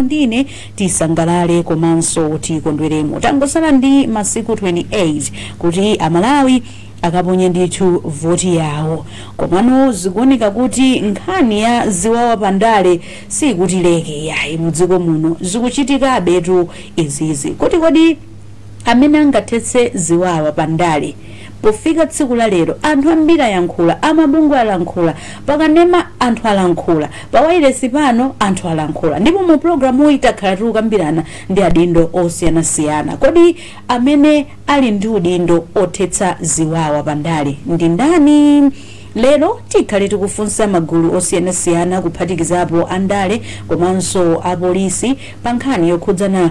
inu ndi ine tisangalale komanso tikondweremo. Tangosala ndi masiku 28 kuti Amalawi akaponye ndithu voti yawo. Komano zikuoneka kuti nkhani ya ziwawa pa ndale sikutileka yayi mudziko muno. Zikuchitikabetu izizi. Kodi kodi amene angathetse ziwawa pa ndale. Pofika tsiku la lero, anthu ambiri ayankhula, a mabungwe alankhula, pa kanema anthu alankhula, pa wailesi pano anthu alankhula, ndipo mu pulogalamuyi takhala tikukambirana ndi adindo osiyanasiyana. Kodi amene ali ndi udindo othetsa ziwawa pa ndale ndi ndani? Lero tikhale tikufunsa magulu osiyanasiyana kuphatikizapo andale komanso apolisi pa nkhani yokhudzana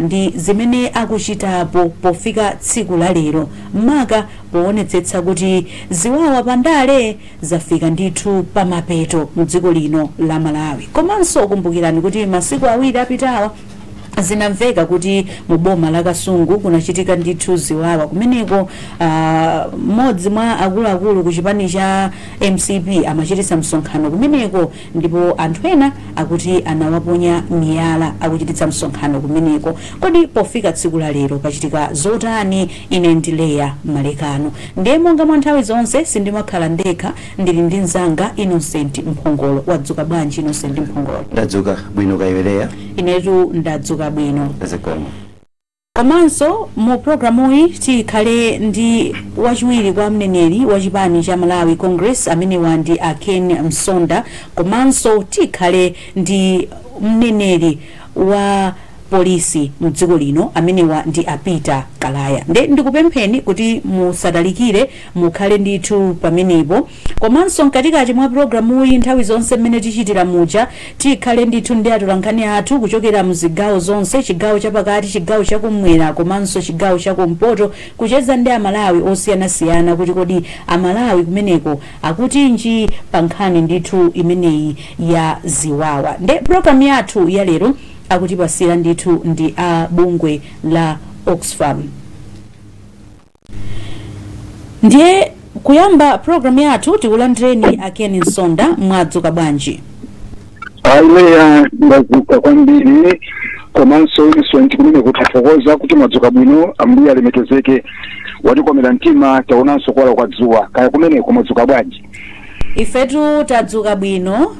ndi zimene akuchitapo pofika tsiku la lero maka powonetsetsa kuti ziwawa pa ndale zafika ndithu pa mapeto mu dziko lino la Malawi. Komanso kumbukirani kuti masiku awiri apitawa zinamveka kuti mu boma la Kasungu kunachitika ndithu ziwawa kumeneko ah, mmodzi mwa akuluakulu ku chipani cha mcp amachititsa msonkhano kumeneko Ndipo anthu ena akuti anawaponya miyala akuchititsa msonkhano kumeneko. Kodi pofika tsiku la lero pachitika zotani? Ine ndi Leah Malekano. Ndiye monga mwa nthawi zonse, sindimakhala ndekha, ndili ndi mnzanga Innocent Mphongolo. Wadzuka bwanji Innocent Mphongolo? Ndadzuka bwino, kaya iwe Leah? Inetu ndadzuka bwino. Zikomo. Komanso mu programuyi tikhale ndi wachiwiri kwa mneneri wa chipani cha Malawi Congress amenewa ndi a Ken Msonda komanso tikhale ndi mneneri wa Polisi mdziko lino amenewa ndi a Peter Kalaya nde ndikupempheni kuti musatalikire mukhale ndithu pamenepo. Komanso mkatikati mwa pulogalamuyi nthawi zonse mmene tichitira muja, tikhale ndithu ndi atolankhani athu kuchokera mzigawo zonse, chigawo chapakati, chigawo chakum'mwera komanso chigawo chakumpoto kucheza ndi Amalawi osiyanasiyana kuti kodi Amalawi kumeneko akutinji pa nkhani ndithu imeneyi ya ziwawa. Nde pulogalamu yathu ya lero akutipatsira ndithu ndi a bungwe la Oxfam. ndiye kuyamba program yathu tikulandireni a Ken Msonda mwadzuka bwanji a Leah ndadzuka kwambiri komanso Innocent kumene kuthokoza kuti mwadzuka bwino ambuye alemekezeke watikomera mtima taonanso kuwala kwa dzuwa kaya kumeneko mwadzuka bwanji ifetu tadzuka bwino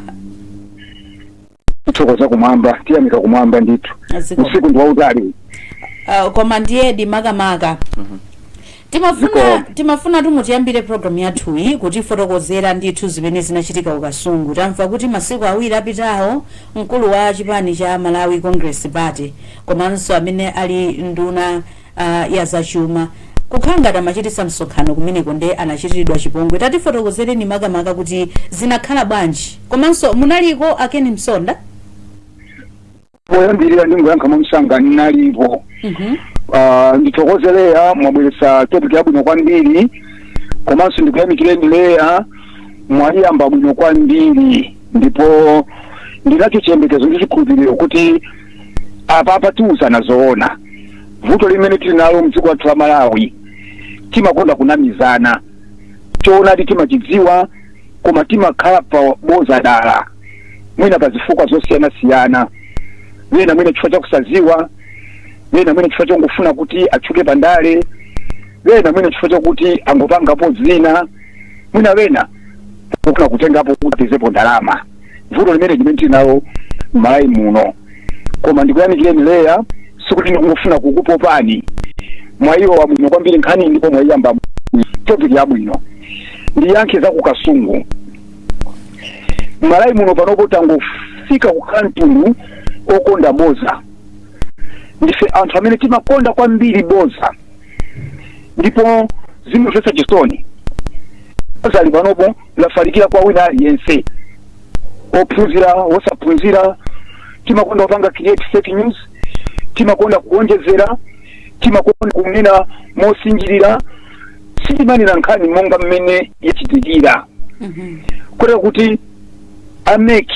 tithokoza kumwamba tiyamika kumwamba ndithu Zikomo. usiku ndi wautali Uh, koma ndiye di makamaka timafuna Zikomo. timafuna tu mutiyambire programu yathuyi kutifotokozera ndithu zimene zinachitika ku kasungu tamva kuti masiku awiri apitawo mkulu wa chipani cha malawi congress party komanso amene ali nduna uh, ya zachuma kukhala ngati amachititsa msonkhano kumeneko nde anachitiridwa chipongwe tatifotokozereni makamaka kuti zinakhala bwanji komanso munaliko a ken msonda poyambirira ndingoyankha mwamsanga ndinalipo Mhm. Ah, ndithokoze leya mwabweretsa topic yabwino kwambiri komanso ndikuyamikireni leya mwayiyamba bwino kwambiri ndipo ndinacho chiyembekezo ndi chikhulupiriro kuti apa apa tiuzana zoona vuto limene tili nalo mdziko lathu la malawi timakonda kunamizana choonadi timachidziwa koma timakhala pa boza dala mwina pa zifukwa zosiyanasiyana wena mwina chifukwa cha kusaziwa wena mwina chifukwa chongofuna kuti atchuke pa ndale wena mwina chifukwa chakuti angopangapo zina mwina wena kufuna kutengapo kuti apezepo ndalama vuto limene limene tili nalo m'malawi muno koma ndikuyamikireni leya sikuti ndikungofuna kukupopani mwayiyamba bwino kwambiri nkhaniyi ndipo mwayiyamba topic yabwino ndiyankhe za ku kasungu m'malawi muno panopo tangofika kukhala mtundu okonda boza ndife anthu amene timakonda kwambiri boza ndipo zimamvetsa chisoni bozali panopo lafalikira kwa wina aliyense ophunzira wosaphunzira timakonda kupanga create fake news timakonda kuonjezera timakonda kunena mosinjirira sitimanena nkhani monga mmene yachitikira kotero kuti a mec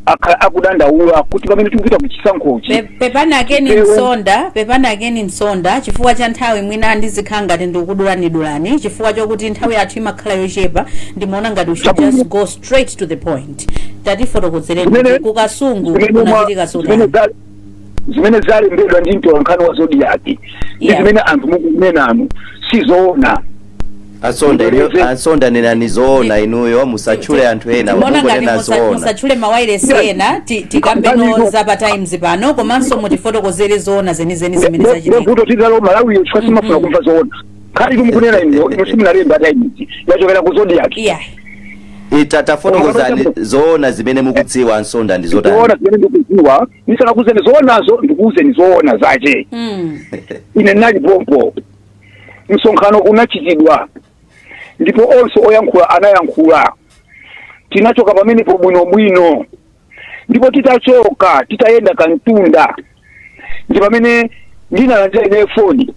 akhala akudandaula kuti pamene tikupita ku chisankhochi Pe- pepani a ken Ewe. msonda pepani a ken msonda chifukwa cha nthawi mwina ndizikhala ngati ndikudulanidulani chifukwa chokuti nthawi yathu imakhala yochepa ndimaona ngati we should Chabwino. just go straight to the point tatifotokozereni Zimene- kuti ku kasungu zimene mwa- kunachitika zimene zotani za- zimene zalembedwa ndi mtolankhani wa zodiak ndi Yeah. zimene anthu mukunenanu sizoona a msonda inu- Ndibwereze. a msonda nenani zoona inuyo musatchule anthu ena mbona ngati mungonena musa- zoona musatchule mawairesi Yes. ena ti- tikambeno Ndibwereze. za pa times pano komanso mutifotokozere zoona zenizeni zimene zachitika nde vuto tili nalo malawiyo chifukwa simufuna kumva zoona nkhani inu mukunena inu inu simunalembe a times yachokera ku zodiak yeah ita tafotokozani zoona zimene mukudziwa a msonda ndi zotani zoona zimene ndikuziwa ndisanakuuzeni zoonazo ndikuuzeni zoona zache mm. ine ndinali pompo msonkhano unachitidwa ndipo onse oyankhula anayankhula tinachoka pamenepo bwinobwino ndipo titachoka titayenda kamtunda ndi pamene ndinalandira ineyo foni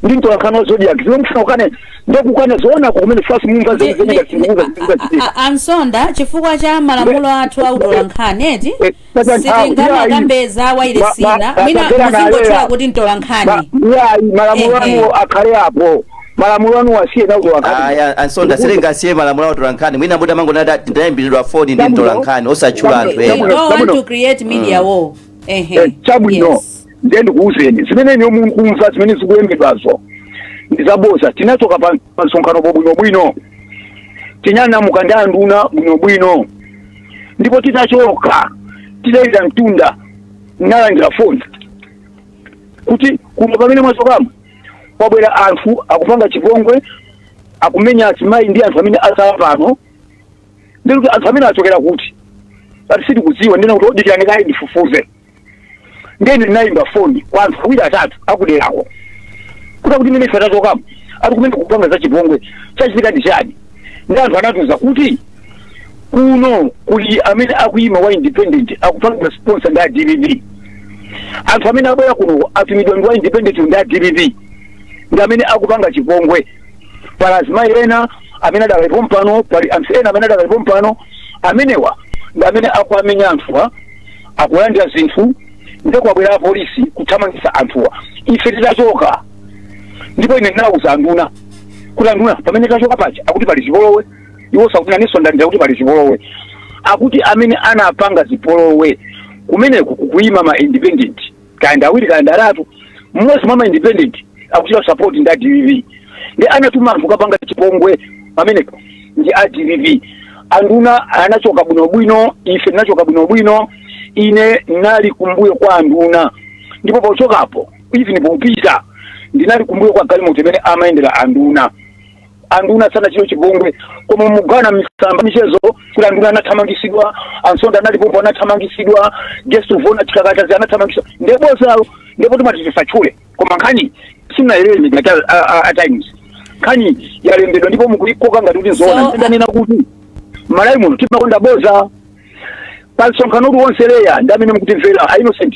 ndi mtolankhani wa zodiac zimene mufuna kukana mungokana zoonako kumene first mumva Ndi- ndi- zimene zimene a- zimene a- a- ansonda chifukwa cha malamulo athu a utolankhani eti Eh, sasa nthawi, sitingamakambe za wayilesi Ma- ma- ina mwina akagera muzingotchula naleya. kuti mtolankhani yayi malamulo Eh, eh. anu akhale apo malamulo anu asiyeni a utolankhani ayi a- ansonda sitingasiye malamulo a utolankhani mwina muti mungoti ndayimbiridwa foni ndi mtolankhani osatchula anthu They ena Chabwino, don't want chabwino. to create media war. Ehe. Eh, chabwino Yes. ndiye ndikuwuzeni zimene inuyo mukumva zimene zikulembedwazo ndizaboza tinachoka pa pa msonkhanopo bwinobwino tinanyamuka ndi anduna bwinobwino ndipo titachoka titayenda mtunda ndalandira foni kuti kuno pamene mwachokamo kwabwera anthu akupanga chipongwe akumenya azimayi ndi anthu amene atsala pano ndinati anthu amene achokera kuti ati sitikudziwa ndinati dikirani kaye ndifufuze nde ine ndinayimba foni kwa anthu awiri atatu akuderako kuti kuti mene ife tachokamo ati kumeneku kukupanga za chipongwe chachitika ndi chani ndi anthu anatiuza kuti kuno kuli amene akuyima wa independent akupanga sponsor ndi a dpp anthu amene abwera kuno atumidwa ndi wa independent ndi a dpp ndi amene akupanga chipongwe pali azimayi ena amene adakalipo pano pali anthu ena amene adakalipo pano amenewa ndi amene akuamenya anthuwa akulandira zinthu ndipo kwabwera apolisi kuthamangitsa anthuwa ife titachoka ndipo ine ndinawuza anduna kuti anduna pamene tachoka paja akuti pali zipolowe iwo anafunsanso ndati kuti pali zipolowe akuti amene anapanga zipolowe kumeneku kukuyima ma independent kaya ndi awiri kaya ndi atatu mmodzi mwa ma independent akuchitidwa support ndi a dpp ndi anatuma anthu kukapanga chipongwe pamenepo ndi a dpp anduna anachoka bwinobwino ife tinachoka bwinobwino ine ndinali kumbuyo kwa anduna ndipo pochokapo even popita ndinali kumbuyo kwa galimoto imene amayendera anduna anduna sanachitidwe chipongwe koma mukuona m'masamba a mchezo kuti anduna anathamangisidwa ansonda analipompo anathamangisidwa guest of honour chikakatazi anathamangisidwa nde bodzalo ndipo timati tisatchule koma nkhani si ya ngati a- a- a- a times nkhani yalembedwa ndipo mukuikoka ngati kuti nzoona So, ndanena kuti malawi muno timakonda boza pa msonkhano uliwonse leya ndinu amene mukutimvera a innocent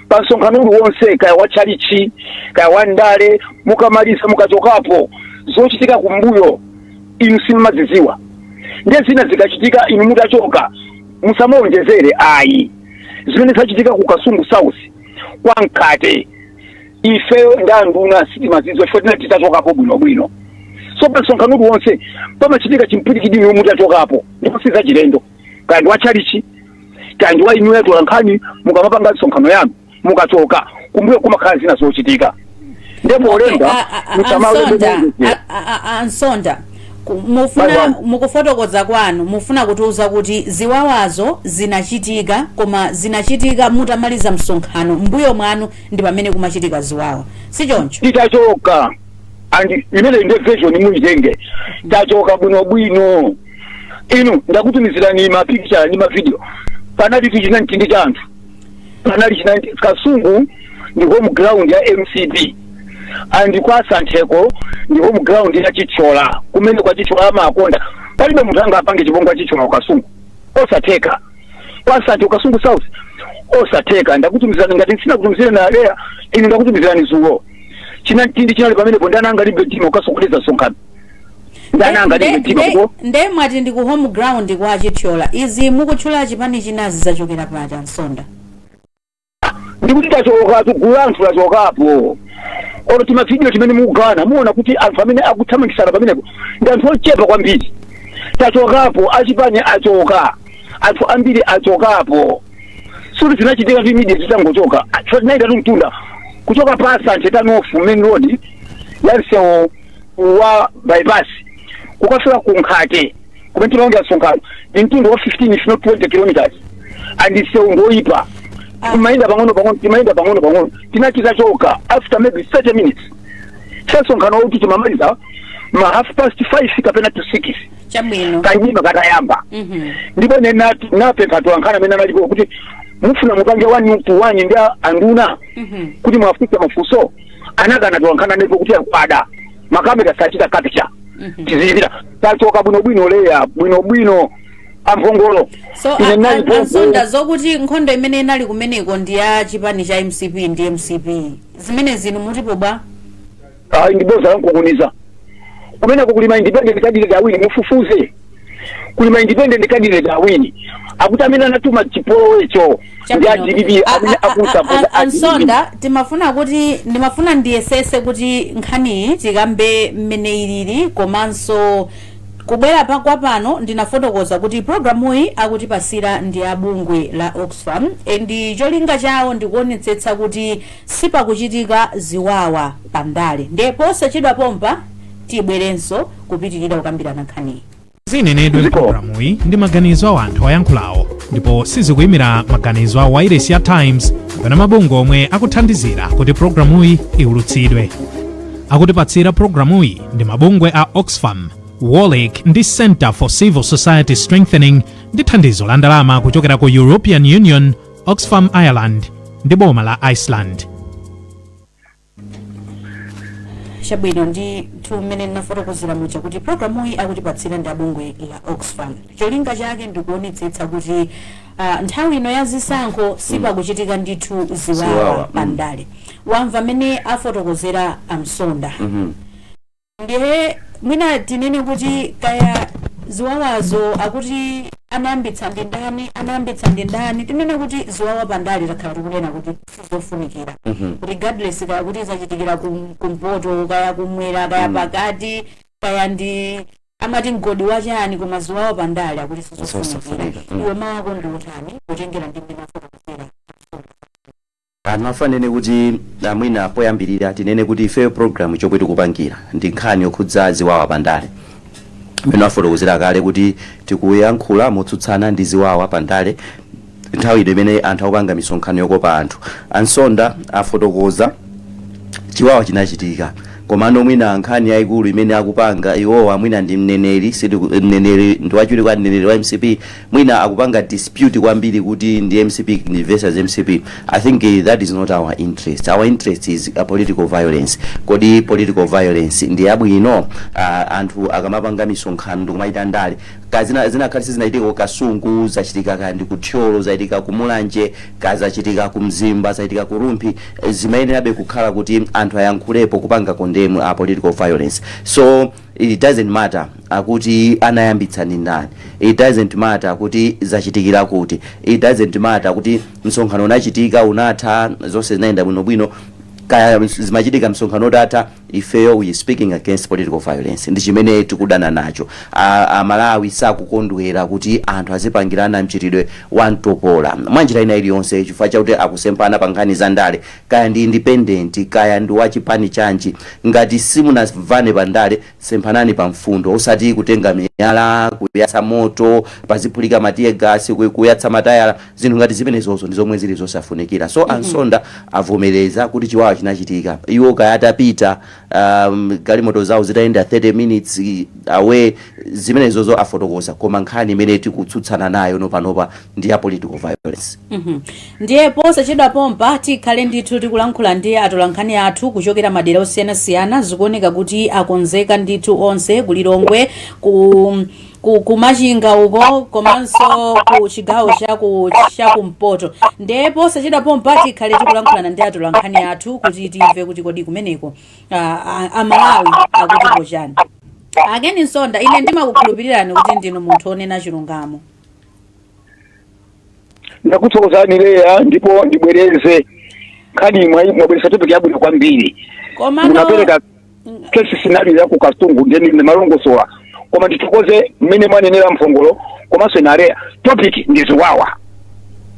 pa msonkhano uliwonse kaya wa tchalichi kaya wa ndale mukamaliza mukachokapo zochitika kumbuyo inu simumazidziwa ndiye zina zikachitika inu mutachoka musamaonjezere ayi zimene zachitika ku kasungu south kwa mkhate ifeyo ndi anduna sitimazidziwa chifukwa tinali titachokapo bwinobwino so pa msonkhano uliwonse pamachitika chimpwirikiti inu mutachokapo ndipo sizachilendo kaya ndi watchalichi kaya ndi wa inuyo atolankhani mukamapanga misonkhano yanu mukachoka kumbuyo kumakhala zina zochitika ndipo olemba A- a- a- musamawembe a Msonda, muonjezera a- a- a- a msonda Ku- mufuna mukufotokoza kwanu mufuna kutiuza kuti ziwawazo zinachitika koma zinachitika mutamaliza msonkhano mbuyo mwanu ndi pamene kumachitika ziwawa si choncho titachoka and imeneyi nde version muyitenge tachoka bwinobwino inu ndakutumizirani mapikicha ndi mavidiyo panalitu chinamtindi cha anthu panali china kasungu ndi home ground ya mcp and kwa santheko ndi home ground ya chithyola kumeneko a chithyola amakonda palibe munthu angapange chipongwe kwa chithyola ku kasungu osatheka kwa santhe ku kasungu south osatheka ndakutumizirani ngati sindinakutumizireni a leya inu ndakutumizirani dzulo chinamtindi chinali pamenepo ndani angalimbe mtima kukasokoneza msonkhano ndani angalimbe mtima ndipo nde mwati ndi ku home ground kwa chithyola izi mukutchula chipani chinazi zachokera pati a msonda ndikuti tachokatu gulu la anthu lachokapo olo timavidiyo timene mukugawana muona kuti anthu amene akuthamangitsana pamenepo ndi anthu ochepa kwambiri tachokapo achipani achoka anthu ambiri achokapo sikuti zinachitika immediately titangochoka chinaitatu mtunda kuchoka pa santhe turn off main road ya msewu wa bypass kukafika ku nkhate kumene timaonera msonkhano ndi mtunda wa 15 if not 20 kilometers and msewu ngoyipa Ah. timayenda pang'ono pang'ono timayenda pang'ono pang'ono tinati tachoka after maybe 30 minutes so msonkhanowutu timamaliza ma half past 5 kapena to 6 chabwino kamdima katayamba Mhm. ndipo ine nati- napempha atolankhani amene analipo kuti mufuna mupange one to one ndi a- anduna Mhm. kuti muwafunse mafunso anakana atolankhani ndipo kuti aa kwada makamera sachita capture Mhm. tizipita tachoka bwinobwino leya bwinobwino amphongolo so Ine a- nali a- mphongolo. a msonda zokuti nkhondo imene inali kumeneko ndi ya chipani cha mcp ndi mcp zimenezi inu mutipo bwa ayi ndiboza lamkunkhuniza kumeneko kuli ma independent candidate awiri mufufuze kuli ma independent candidate awiri akuti amene anatuma chipolowecho ndi a dpp amene akusapota a dpp a msonda timafuna kuti ndimafuna ndiyesese kuti nkhaniyi tikambe mmene ilili komanso kubwera kwa pano ndinafotokoza kuti programuyi akutipasira ndi a bungwe la oxfam and cholinga chawo ndikuonetsetsa kuti sipakuchitika ziwawa pa ndale ndiye posachedwa pompa Tibwerenso kupitirira kukambirana nkhaniyi. Zinenedwe m'programuyi ndi maganizo a wanthu oyankhulawo ndipo sizikuimira maganizo a wailesi ya Times kapena mabungwe omwe akuthandizira kuti programuyi iwulutsidwe. Akutipatsira programuyi ndi mabungwe a Oxfam, Wolrec ndi Centre for Civil Society Strengthening ndi thandizo la ndalama kuchokera ku European Union, Oxfam Ireland ndi boma la Iceland. chabwino ndithu mmene nafotokozera muja kuti programuyi akutipatsira ndi abungwe la oxfam cholinga chake ndikuonetsetsa kuti ah, nthawi ino ya zisankho sipakuchitika ndithu ziwawa Ziwawa, mm. pandale wamva mmene afotokozera a Nsonda ndiye mwina tinene kuti kaya ziwawazo akuti anayambitsa ndi ndani anayambitsa ndi ndani tinene kuti ziwawa pandale takhala tikunena kuti sizofunikira regardless kaya kuti zachitikira kum- kumpoto kaya kumwera kaya pakati kaya ndi amati mgodi wachani koma ziwawa pandale akuti sizofunikira Sizofunika, mm. iwe mawu ako ndi otani kutengera ndi mmene afotokozera Andifuna ndinene kuti a mwina poyambirira tinene kuti ifeyo program chomwe tikupangira ndi nkhani yokhudza ziwawa pa ndale. Mmene wafotokozera kale kuti tikuyankhula motsutsana ndi ziwawa pa ndale nthawi ino imene anthu akupanga misonkhano yokopa anthu. A Nsonda afotokoza chiwawa chinachitika komano mwina nkhani yayikulu imene akupanga iwowa mwina ndi mneneri sitiku- mneneri ndi wachiwiri kwa mneneri wa mcp mwina akupanga dispute kwambiri kuti ndi mcp ndi versus mcp i think eh, that is not our interest our interest is a political violence kodi political violence ndi yabwino uh, anthu akamapanga misonkhano ndikumachita ndale kaya zinakhala sizinachitike ku kasungu zachitika kaya ndi ku thyolo zachitika ku mulanje kaya zachitika ku mzimba zachitika ku rumphi eh, zimayenerabe kukhala kuti anthu ayankhulepo kupanga condemn a political violence so It doesn't matter akuti anayambitsa ndi ndani, it doesn't matter kuti zachitikira kuti, it doesn't matter kuti msonkhano unachitika, unatha, zonse zinayenda bwinobwino, kaya zimachitika msonkhano utatha, ifeyo we speaking against political violence ndi chimene tikudana nacho. A, Amalawi sakukondwera kuti anthu azipangirana mchitidwe wa mtopola mwanjira ina iliyonse chifukwa chakuti akusemphana pa nkhani za ndale kaya ndi independent kaya ndi wa chipani chanji ngati simunamvane pa ndale semphanani pa mfundo osati kutenga miyala kuyatsa moto paziphulika ma tear gas ku- kuyatsa matayala zinthu ngati zimenezozo ndi zomwe zili zosafunikira so a Nsonda avomereza kuti chiwawa chinachitika iwo kaya atapita um, galimoto zawo zitayenda 30 minutes eh, away zimenezozo afotokoza koma nkhani imene tikutsutsana nayo nopanopa ndi ya political violence mm -hmm. ndiye posachedwa pompa tikhale ndithu tikulankhula ndi atolankhani athu kuchokera madera osiyanasiyana zikuoneka kuti akonzeka ndithu onse ku Lilongwe ku ku Machinga uko komanso ku chigawo cha kumpoto ndiye posachedwa pompa tikhale tikulankhulana ndi atolankhani athu kuti timve kuti kodi kumeneko Amalawi akuti pochani a Ken Nsonda ine ndimakukhulupirirani kuti ndinu munthu onena chilungamo ndakuthokozani Leah ndipo ndibwereze nkhani mwa- mwabweretsa topic yabwino kwambiri komano munapereka case scenario ya ku Kasungu ndiye ndimalongosola koma ndithokoze mmene mwanenera mphongolo komanso inu a Leah topic ndi ziwawa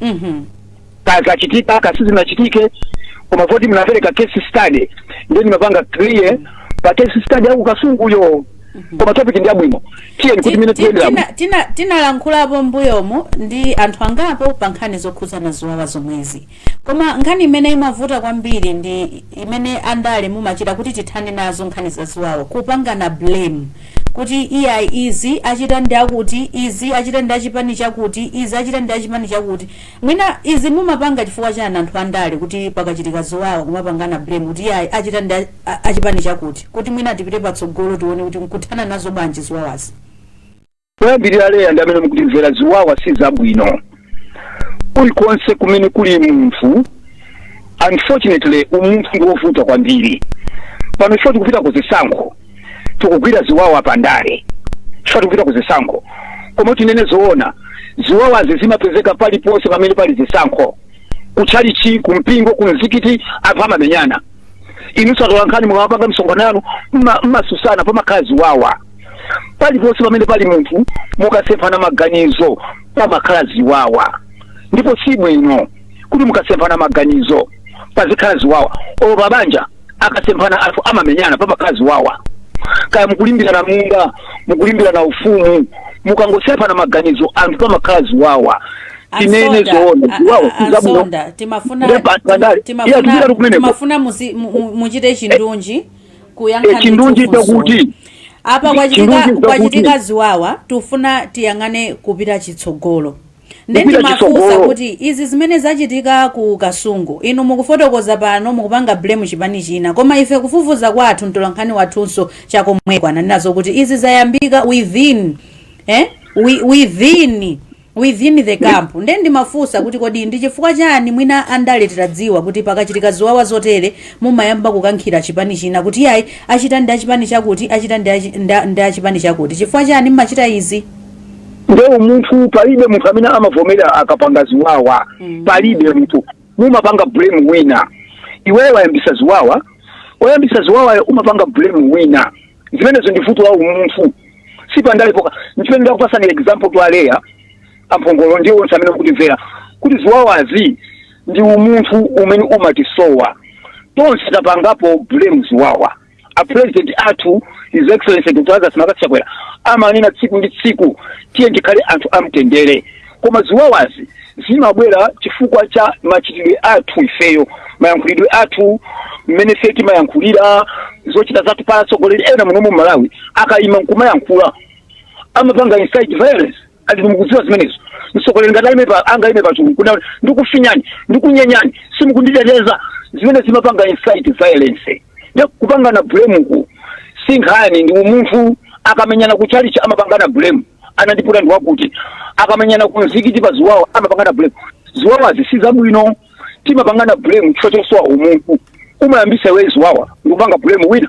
Mhm. kaya kachitika kaya sizinachitike koma poti mnapereka case study ndiye ndimapanga clear pa case study ya ku Kasunguyo koma topic ndi yabwino tiyeni tikutimine tiyendera bwino. tina tinalankhulapo m'mbuyomu ndi anthu angapo pa nkhani zokhudzana ziwawa zomwezi koma nkhani imene imavuta kwambiri ndi imene andale mumachita kuti tithane nazo nkhani za ziwawa kupangana blame kuti iyayi izi achita ndi akuti izi achita ndi achipani chakuti izi achita ndi achipani chakuti Mwina izi mumapanga chifukwa chani anthu andale kuti pakachitika ziwawa kumapangana blame kuti iyayi achita ndi a chipani chakuti kuti mwina tipite patsogolo tione kuti nkuthana nazo bwanji ziwawazi. Poyambilira Leah ndi amene mukutimvera ziwawa sizabwino kulikonse kumene kuli munthu unfortunately umunthu ndi wovuta kwambiri pano chifukwa tikupita ku zisankho tikugwira ziwawa pa ndale chifukwa tikupita ku zisankho koma tinene zoona ziwawazi zimapezeka paliponse pamene pali zisankho kutchalichi kumpingo kumzikiti anthu amamenyana inunso atolankhani mukamapanga misonkhano yanu mma- mmatsutsana pamakhala ziwawa paliponse pamene pali munthu mukasemphana maganizo pamakhala ziwawa ndipo si bwino kuti mukasemphana maganizo pazikhala ziwawa olo pabanja akasemphana anthu amamenyana pamakhala ziwawa kaya mukulimbirana munda mukulimbirana ufumu mukangosemphana maganizo anthu pamakhala ziwawa tinene zoona ziwawa sizabwino a Nsonda timafuna Nde pa- pandale. Iya, tizira timafuna kumeneko. timafuna muzi- mu- mu- muchite chindunji Eh, tikuyankhani chindunji cha funso. chakuti apa Chindunji kwachitika chakuti. kwachitika ziwawa tufuna tiyang'ane kupita chitsogolo nde Kupita ndimafunsa chitsogolo. kuti izi zimene zachitika ku Kasungu inu mukufotokoza pano mukupanga blame chipani china koma ife kufufuza kwathu mtolankhani wathunso chakomweko ali nazo kuti izi zayambika within eh? Wi- within within the camp nde ndimafunsa kuti kodi ndi chifukwa chani mwina andale titadziwa kuti pakachitika ziwawa zotere mumayamba kukankhira chipani china kuti ayi achita ndi achipani chakuti achita ndi achi- nda- ndi achipani chakuti chifukwa chani mmachita izi nde umunthu palibe munthu amene amavomera akapanga ziwawa mm. palibe munthu mumapanga blame wina iweyo wayambisa ziwawa oyambisa ziwawayo umapanga blame wina zimenezo ndi vuto la umunthu si pa ndalepo nchimene ndakupasani example to a Leah a Mphongolo ndi onse amene akutimvera kuti ziwawazi ndi umunthu umene umatisowa tonse tapangapo blame ziwawa a president athu his excellency dr lazarus mccarthy chakwera amanena tsiku ndi tsiku tiye tikhale anthu amtendere koma ziwawazi zimabwera chifukwa cha machitidwe athu ifeyo mayankhulidwe athu mmene ife timayankhulira zochita zathu pa atsogoleri ena muno mu malawi akayima nkumayankhula amapanga incite violence ali mukudziwa zimenezo mtsogoleri ngati ali angaime pachulu kuna ndikufinyani ndikunyenyani simukunditeteza zimenezo zimapanga incite violence nde kupangana blameku si nkhani ndi umunthu akamenyana ku chalichi amapangana blame anandiputa ndi wakuti akamenyana ku mzikiti pa ziwawa amapangana blame ziwawazi si zabwino timapangana blame chifukwa chosowa umunthu umayambisa iwe ziwawa ndikupanga blame wina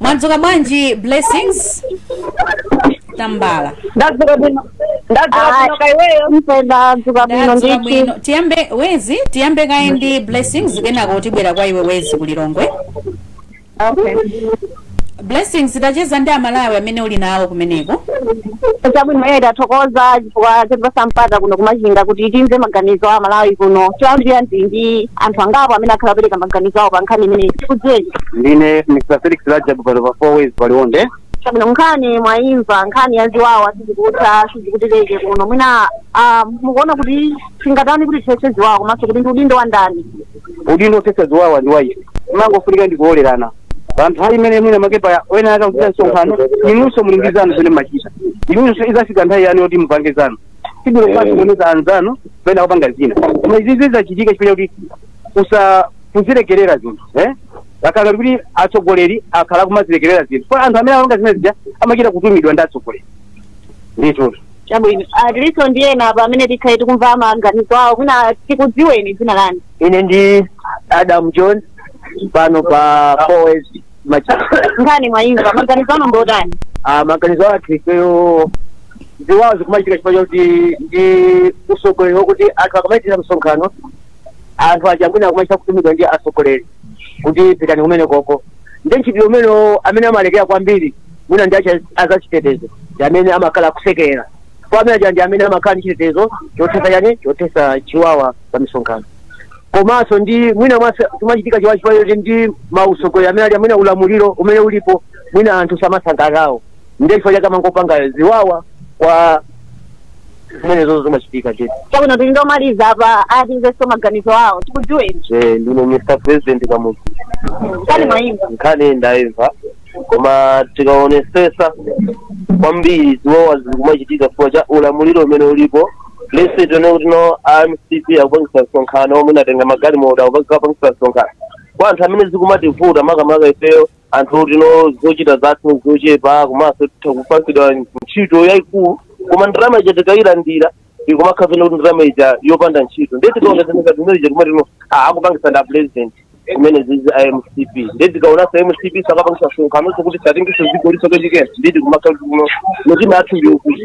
mwadzuka bwanji blessings tambala ndadzuka bwino ndadzuka bwino kaiweyo ndadzuka bwino ndadzuka ndithu bwino tiyambe wezi tiyambe kaye ndi blessings kenako tibwera kwa iwe wezi kulilongwe okay blessings tacheza ndi amalawi amene uli nawo kumeneko chabwino iye tathokoza chifukwa chotipasa mpata kuno kumachinga kuti timve maganizo a amalawi kuno choyambirira ndili ndi anthu angapo amene akhala akupereka maganizo awo pa nkhani imeneyi tikudziweni ndine mr felix rajabu pano pa four ways paliwonde chabwino nkhani mwayimva nkhani ya ziwawa sizikutha sizikutheka kuno mwina ah, mukuona kuti tingatani kuti tithetse ziwawa komanso kuti ndi udindo wa ndani udindo othetsa ziwawa ndi waife pamangofunika ndi kulolerana pa nthawi imene mwina mwake pena ena akuchita msonkhano inunso muli ndi zanu zimene mumachita inunso izafika nthawi yanu yoti mupange zanu sibwino kumasokoneza anzanu pena kupanga zina koma izizi zachitika chifukwa kuti kusa kuzilekerera zinthu eh kapena kuti atsogoleri akhala kumazilekerera zinthu kwa anthu amene amapanga zimene zija amachita kutumidwa ndi atsogoleri ndithu Chabwino. Ah, tilinso ndi ena apa amene tikhale tikumva maganizo awo. Mwina tikudziweni dzina lanu. ine ndi adam john pano pa four ways Nkhani mwayimva maganizo anu ndotani? maganizo athu ifeyo ziwawa zikumachitika chifukwa chakuti ndi usogoleri wokuti anthu akamachitira msonkhano anthu aja mwina akumachita kutumidwa ndi asogoleri kuti pitani kumene koko ndi ntchito umene amene amalekera kwambiri mwina ndi acha- azachitetezo ndi amene amakhala akusekerera pomwe aja ndi amene amakhala ndi chitetezo chothetsa chani chothetsa chiwawa pa misonkhano komanso ndi mwina mwase- kumachitika chiwawa chiwawa choti ndi mautsogoleri amene ali amene ulamuliro umene ulipo mwina anthu samasangalala nawo ndiye chifukwa chake amangopanga ziwawa koma zimenezo zimachitika chete chabwino tili ndi omaliza apa timvenso maganizo awo tikudziweni ndine mr president kamuzu nkhani mwaimva nkhani ndayimva koma tikaonesesa kwambiri ziwawa zizikumachitika chifukwa cha ulamuliro umene ulipo let's say tione kuti no a mcp akupangisa msonkhano omwewo atenga magalimoto akupangisa msonkhano kwa anthu amene zikumativuta makamaka ifeyo anthu oti no zochita zathu zochepa komanso titha kupatsidwa ntchito yayikulu koma ndalama ija tikayirandira ikumakhala ngati kuti ndalama ija yopanda ntchito ndiye tikaonesa ngati zimene zija kumati no ah, akupangisa nda president zimenezizi a mcp ndiye tikaonesa mcp sakapangisa msonkhano so kuti atengenso dzikoli so kachikena ndiye tikumakhala kuti kuno mitima yathu ndiyokuti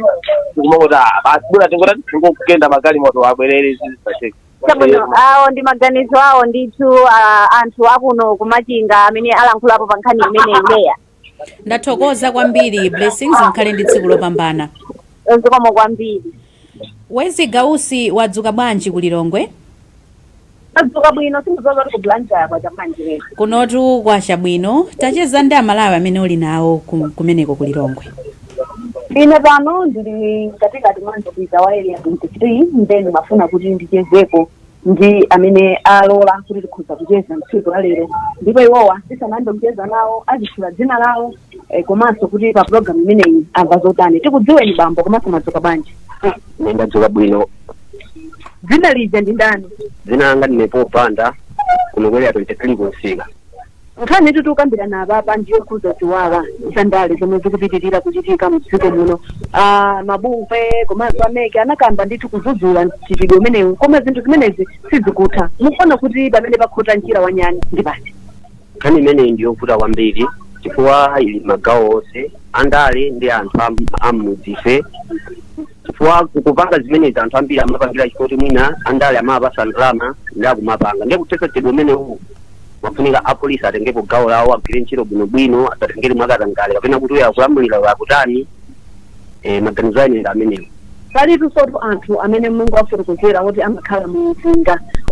tikumangoti ah, basi bola tingoti tingokagenda magalimoto abwerere zizi zacheka chabwino awo ndi maganizo awo ndithu ah, anthu akuno kumachinga amene alankhulapo pa nkhani imeneyi Leah ndathokoza kwambiri blessings mukhale ndi tsiku lopambana zikomo kwambiri wezi gausi wadzuka bwanji ku lilongwe ndadzuka bwino sindidziwa kuti ku Blantyre kwacha bwanji lero kunotu kwacha bwino tacheza ndi amalawi amene uli nawo ku- kumeneko ku lilongwe ine pano ndili katikati mwa msika wa area 23 nde ndimafuna kuti ndichezeko ndi amene alola kuti tikhoza kucheza mtsiku la lero ndipo iwowa tisanayambe kucheza nawo azitchula dzina lawo eh, komanso kuti pa program imeneyi amva zotani tikudziweni bambo komanso mwadzuka bwanji ine ndadzuka bwino dzina lija ndi ndani dzina langa ndine Paul Banda kuno ku area 23 kumsika Nkhani yoti tikukambirana apapa ndi yokhudza ziwawa za ndale zomwe zikupitirira kuchitika mu dziko muno. A mabungwe komanso a mec anakamba ndithu kudzudzula mchitidwe umenewu koma zinthu zimenezi sizikutha. Mukuona kuti pamene pakhota mchira wa nyani ndi pati? nkhani imeneyi ndi yovuta kwambiri chifukwa ili magawo onse andale ndi anthu am- am'mudzife chifukwa kupanga zimenezi anthu ambiri amapangira chifukwa choti mwina andale amawapatsa ndalama ndiye akumapanga ndiye kuthetsa mchitidwe umenewu pafunika apolisi atengepo gawo lawo agwire ntchito bwinobwino asatengere mwakatangale kapena kuti uyo akulamulira uyo akutani eh, maganizo a ineyo ndi amenewo palinsotu anthu amene mwango wafotokozera kuti amakhala m'mudzi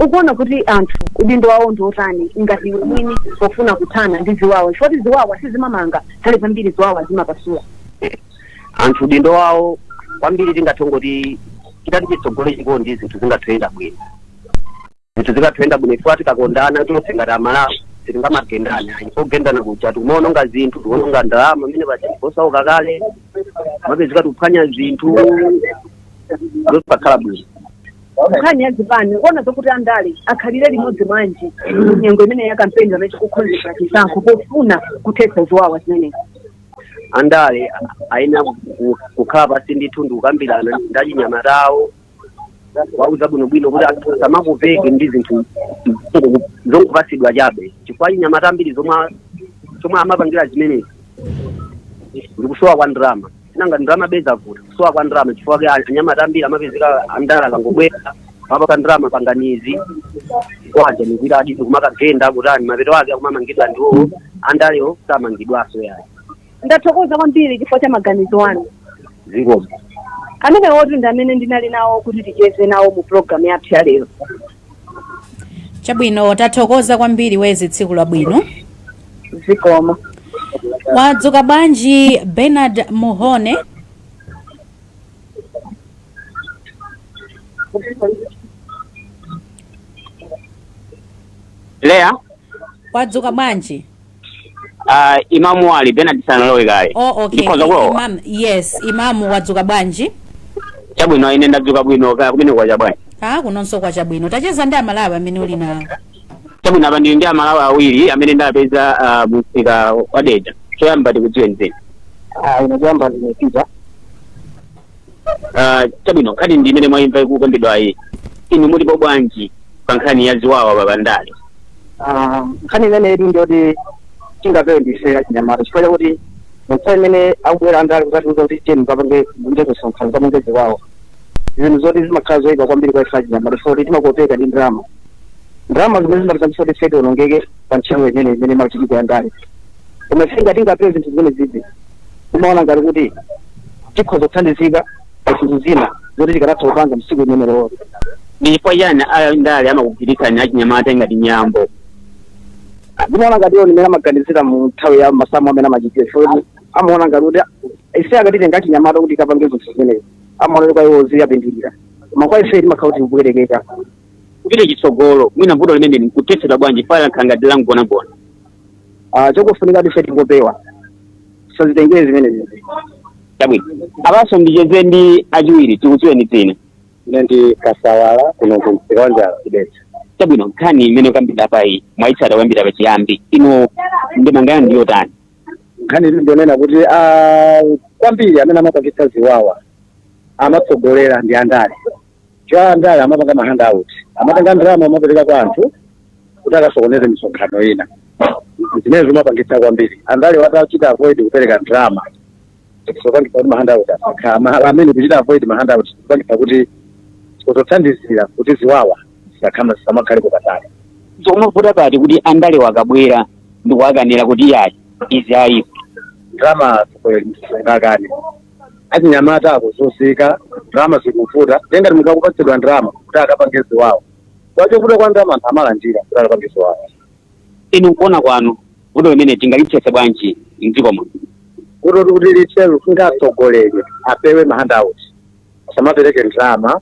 mukuona kuti anthu udindo wawo ndi otani ngati iwo eni pofuna kuthana ndi ziwawa chifukwa ziwawa sizimamanga nthawi zambiri ziwawa zimapasula anthu udindo wawo kwambiri tingathe kungoti chitati chitsogole chikondi zinthu zingathe kuyenda bwino zinthu zingathe kuyenda bwino chifukwa tikakondana tonse ngati amalawi sitingamagendane ayi pogendana kuja tikumaononga zinthu tikuononga ndalama pomwe paja osauka kale timapezeka tikuphwanya zinthu zosakhala bwino nkhani ya zipani kuona zokuti andale akhalire limodzi mmanja nyengo imene ya kampeni pamene tikukhonzera chisankho pofuna kuthetsa ziwawa zimenezi andale ayenera ku- ku- kukhala pansi ndithu ndi kukambirana ndi achinyamata awo kuwauza bwinobwino kuti anthu asamakopeke ndi zinthu zongo- zongopatsidwa chabe chifukwa achinyamata ambiri zomwe a- zomwe amapangira zimenezi ndikusowa kwa ndalama si nanga ndalama bezavuta kusowa kwa ndalama chifukwa chake anyamata ambiri amapezeka andale akangobwera awapatsa ndalama pangani izi kwaja nikuita hadi kumakagenda kutani mapeto ake akumamangidwa ndi iwowo andalewo samangidwanso yayi ndathokoza kwambiri chifukwa cha maganizo anu zikomo amenewotu ndi amene ndinali nawo kuti ticheze nawo mu programu yathu ya lero chabwino tathokoza kwambiri ndi tsiku labwino zikomo wadzuka bwanji bernard mhone leya wadzuka bwanji uh, imamu ali bernard sanalowe kale oh, okay ndikhoza kulowa imam yes imamu wadzuka bwanji chabwino ine ndadzuka bwino kaya kumeneko kwacha bwanji ah kunonso kwacha bwino tacheza ndi amalawi amene uli nawo chabwino apa ndili ndi amalawi awiri amene ndapeza ah, mu msika wa dedza choyamba tikudziwe mzanga ine choyamba ndine pita Ah, chabwino nkhani ndi imene mwayimva ikukambidwa iyi inu mukutipo bwanji pa nkhani ya ziwawa pa ndale nkhani imeneyi ndiyoti tingapewe ife achinyamata chifukwa chakuti nthawi imene akubwera andale kukatiuza kuti tiyeni mukapange kunja kumsonkhano kapange ziwawa zinthu zoti zimakhala zoyipa kwambiri kwa ife achinyamata chifukwa kuti timakopeka ndi ndalama ndalama zimene zimatipangitsa kuti ife tionongeke pa ntchito imene imene imachitika ya ndale koma ife titangopewa zinthu zimenezizi timaona ngati kuti tikhoza kuthandizika pa zinthu zina zoti tikanatha kupanga tsiku imeneyo ndi chifukwa chani andale amakugwiritsani achinyamata ngati nyambo ndimaona ngati iwo ndimene amaganizira mu nthawi ya masamu amene amachitira chifukwa amaona ngati kuti ife akatite ngati anyamata kuti kapange zinthu zimenezi amaona kuti kwa iwo ziwapindulira koma kwa ife timakhala kuti tikubwerekera kupita chitsogolo mwina vuto limeneli nkuthetsedwa bwanji chifukwa lakhala ngati langonagona Ah, chokufunika ndife tingopewa sazitengere zimenezi chabwino apanso ndicheze ndi achiwiri tikudziweni dzina ine ndi kasawala kuno ku msika wa njala ku Dedza chabwino nkhani imene ikukambidwa panoyi mwaitsata kuyambira pachiyambi inu ndemanga yanu ndi yotani nkhani iyi ndi yonena kuti ah, kwambiri amene amapangitsa ziwawa amatsogoleredwa ndi andale andale amapanga ma handout amatenga ndalama amapereka kwa anthu kuti akasokoneze misonkhano ina zimene zimapangitsa kwambiri andalewa atachita avoid kupereka ndalama zopangitsa kuti ma handout asakha ma- amene kuchita avoid ma handout zopangitsa kuti kuzathandizira kuti ziwawa zisakhama zisamakhalepo patali zikumavuta pati kuti andalewa akabwera ndikuwakanira kuti yayi izi ayipo ndalama zikuyeli msungakani achinyamata akuzunzika ndalama zikuvuta nde ngati munthu akupatsidwa ndalama kuti akapange ziwawa kamba kovuta kwa ndalama anthu amalandira kuti akapange ziwawa inu nkuona kwanu vuto limeneli tingalithetse bwanji mdziko muno kuti kuti lithe lifunika atsogoleri apewe mahandout asamapereke ndalama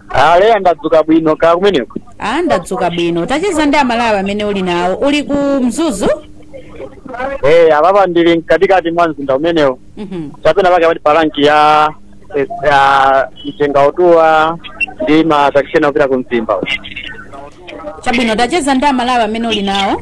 a Leya ndadzuka bwino kaya kumeneko a ndadzuka bwino tacheza ndi amalawi amene uli nawo uli ku mzuzu eh apapa ndili mkatikati mwa mzinda umenewo Mhm. chapenapake pati pa rank ya eh, ya Mchengautuwa ndi ma taxi ena opita ku mzimba chabwino tacheza ndi amalawi amene uli nawo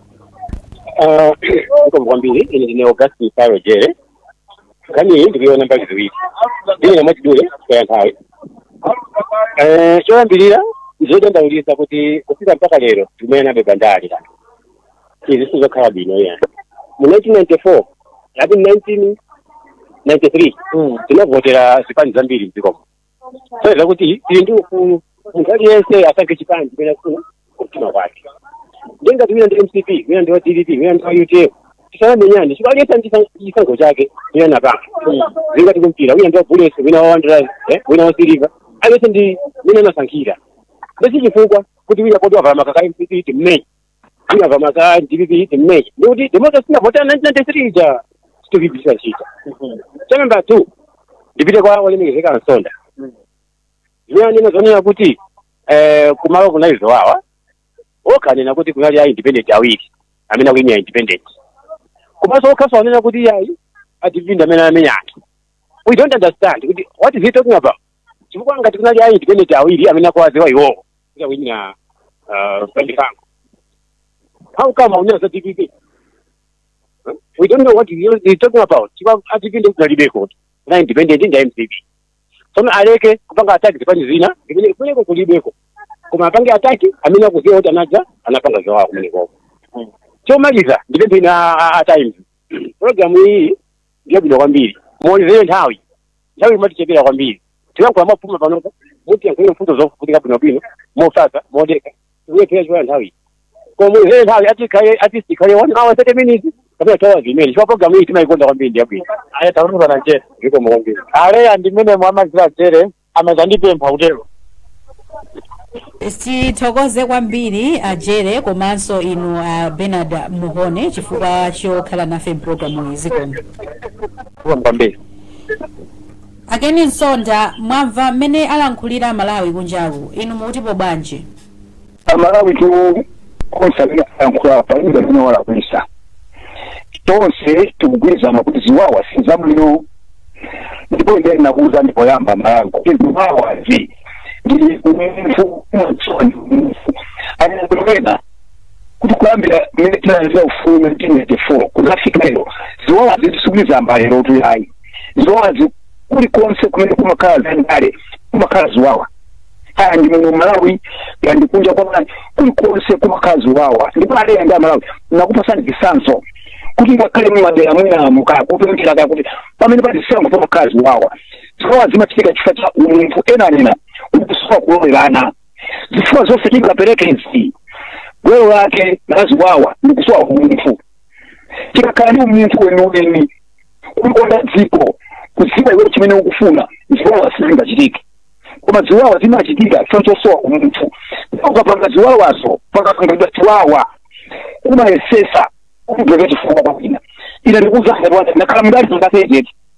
Ah, zikomo kwambiri ine ndine augustin paro jere nkhani ili ndikuiona mbali ziwiri ndinena mwachidule kwa nthawi Eh, choyambirira ndizodandaulisa kuti kufika mpaka lero tikumenyanabe pa ndale izi sizokhala bwino ya mu 1994 ati 1993 tinavotera zipani zambiri mdziko muno kusonyeza kuti tili ndi ufulu munthu aliyense asankhe chipani chimene akufuna kumtima kwake ndiye ngati wina ndi mcp wina ndi wa dpp wina ndi wa utm tisamenyane chifukwa aliyense ndi chisan- chisankho chake wina anapanga zili ngati kumpira wina ndi wa bullets wina wa wanderers eh, wina wa silver aliyense ndi mmene anasankhira nde si chifukwa kuti wina poti wavala makaka mcp timmenye wina wavala makaka dpp timmenye ndikuti democracy tinavotera 1993 ija sitikuyimvetsa chinthu cha namba two ndipite kwa olemekezeka a Msonda zimene anena zonena kuti eh, kumalo kunali ziwawa okha anena kuti kunali a independent awiri amene akuyimira independent komanso okhaso anena kuti ayi a dpp ndi amene amenya anthu we don't understand kuti what is he talking about chifukwa ngati kunali a independent awiri amene akuwadziwa iwowo kuti akuyimira uh, pandipango how come akunena za dpp Huh? we don't know what you're you're talking about chifukwa a dpp kunalibeko na independent ndi a mcp tsono aleke kupanga ataki zipani zina zimene kumeneko kulibeko koma apange ataki amene akudziwa kuti anthu aja anapanga ziwawa kumenekoko chomaliza ndipemphenso a- a- a times programu iyi ndiyabwino kwambiri muwonjezere nthawi nthawi imatichepera kwambiri timalankhula mopupuluma panopo kuti tiyankhule mfundo zofunika bwinobwino mofatsa modekha timawerengera chabe nthawi koma ile nthawi ati kale ati sikale one hour 30 minutes kapena two hours imene chifukwa program iyi timaikonda kwambiri ndi yabwino aya takumvani bwana jere zikomo kwambiri a Leah ndi mmene mwamvera a jere amadzandipempha kutero tithokoze kwambiri ajere komanso inu a bernard mhone chifukwa chokhala nafe mpulogalamu iyi zikomo kwambiri A Ken Msonda mwamva mmene alankhulira Amalawi kunjaku, inu mukutipo bwanji? amalawi tu onse amene ayankhula apa iwo amene walakwisa tonse tikugwirizana kuti ziwawa si zabwino ndipo ine ndikuuzani poyamba Amalawi kuti ziwawazi ndi umunthu umachoni umunthu anena kuti wena kuti kuyambira mmene tinalandira ufulu 1994 kudzafika lero ziwawazi sizikuyamba lero tu yayi ziwawa zi- kulikonse kumene kumakhala zandale kumakhala ziwawa kaya ndi muno malawi kaya ndi kunja kwa malawi kulikonse kumakhala ziwawa ndipo a Leah ndi amalawi ndikupatsani chitsanzo kuti ngakhale mumadera mwinamu kaya kopemphera kaya kuti pamene pali zisankho pamakhala ziwawa ziwawa zimachitika chifukwa cha umunthu ena anena kusowa kulolerana zifukwa zonse tingapereke izi gwero lake laziwawa ndi kusowa umunthu tikakhala ndi umunthu weniweni kulikonda dziko kudziwa iwe chimene ukufuna ziwawa sizingachitike koma ziwawa zikuchitika chifukwa chosowa umunthu ukapanga ziwawazo pakapangidwa ziwawa umayesetsa kumupeza chifukwa kwabwino ine ndikuuza ngati wati ndakhala mdali ndakachete